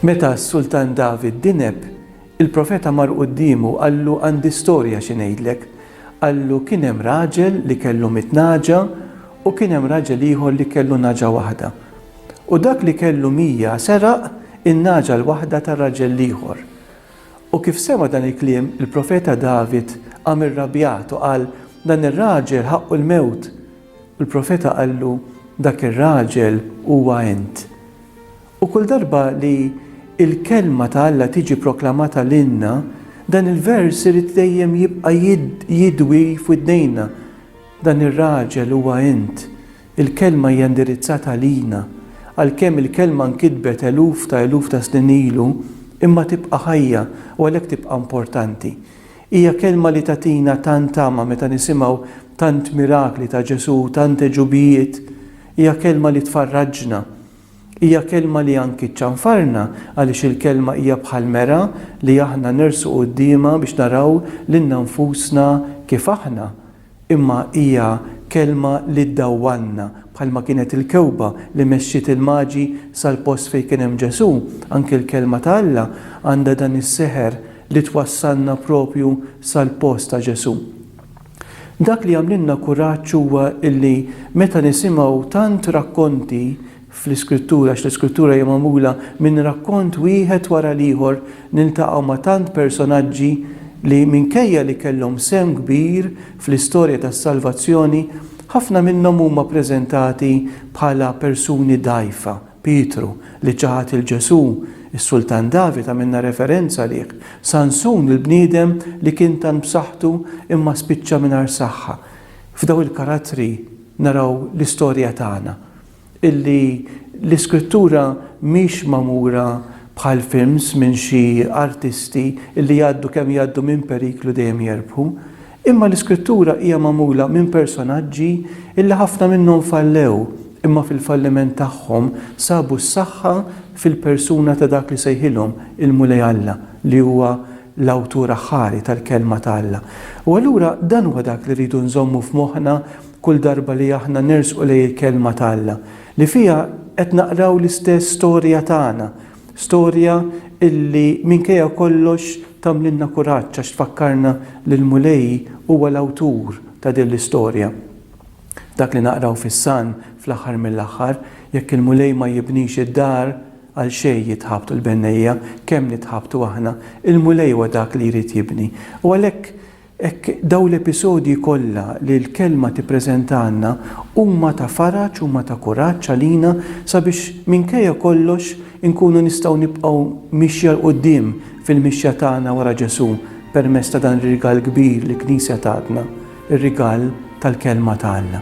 Meta s-Sultan David dineb, il-profeta mar quddiemu qallu għandi storja xi ngħidlek. Qallu kien hemm raġel li kellu mit naġa u kien hemm raġel ieħor li kellu naġa waħda. U dak li kellu mija seraq in-nagħġa l-waħda ta' raġel l-ieħor. U kif sema' dan il-kliem, il-profeta David qam irrabjat u qal, Dan ir-raġel ħaqqu l-mewt! U l-profeta qallu, Dak ir-raġel huwa int. U kull darba li l-kelma ta' Alla tiġi proklamata lilna, dan il-vers irid dejjem jibqa' jidwi f'widnejna, Dan ir-raġel huwa int. Il-Kelma hija indirizzata għalina. Għalkemm il-Kelma nkitbet eluf ta' eluf ta' snin ilu, imma tibqa' ħajja u għalhekk tibqa' importanti. Hija Kelma li tagħtina tant tama meta nisimgħu tant mirakli ta' Ġesù u tant għeġubijiet. Hija Kelma li tfarraġna. Hija Kelma li anki ċċanfarna għaliex il-Kelma hija bħal mera li aħna nersqu quddiemha biex naraw lilna nfusna kif aħna. Imma hija kelma li ddawwalna, bħalma kienet il-kewkba li mexxiet il-Maġi sal-post fejn kien hemm Ġesù, anki l-Kelma ta' Alla għandha dan is-seħer li twassalna proprju sal-post ta' Ġesù. Dak li jagħmlilna kuraġġ huwa illi meta nisimgħu tant rakkonti fl-Iskrittura għax l-Iskrittura hija magħmula minn rakkont wieħed wara l-ieħor niltaqgħu ma' tant personaġġi li minkejja li kellhom sehem kbir fl-istorja tas-salvazzjoni ħafna minnhom huma ppreżentati bħala persuni dgħajfa, Pietru li ċaħad lil Ġesù, is-Sultan David għamilna referenza għalih, Sansun il-bniedem li kien tant b'saħħtu imma spiċċa mingħajr saħħa. F'daw il-karattri naraw l-istorja tagħna. illi l-iskrittura mhix magħmura bħal films minn xi artisti illi jgħaddu kemm jgħaddu minn periklu dejjem jerbħu, imma l-iskrittura hija magħmula minn personaġġi illi ħafna minnhom fallew imma fil-falliment tagħhom sabu s-saħħa fil-persuna ta' dak li sejħilhom il-Mulej Alla li huwa l-Awtur aħħari tal-Kelma ta' Alla. U allura dan huwa dak li rridu nżommu f'moħħna Kull darba li aħna nersqu lejn il-Kelma ta' Alla, li fiha qed naqraw l-istess storja tagħna, storja illi minkejja kollox tagħmlilna kuraġġ għax tfakkarna li l-Mulej huwa l-awtur ta' din l-istorja. Dak li naqraw fis-Salm fl-aħħar mill-aħħar, Jekk il-Mulej ma jibnix id-dar, għal xejn jitħabtu l-bennejja, kemm nitħabtu aħna, il-Mulej huwa dak li jrid jibni. U għalhekk Hekk dawn l-episodji kollha li l-Kelma tippreżentalna huma ta' faraġ, huma ta' kuraġġ għalina sabiex minkejja kollox inkunu nistgħu nibqgħu mixja 'l quddiem fil-mixja tagħna wara Ġesù permezz ta' dan ir-rigal kbir li l-Knisja tatna, ir-rigal tal-Kelma ta' Alla.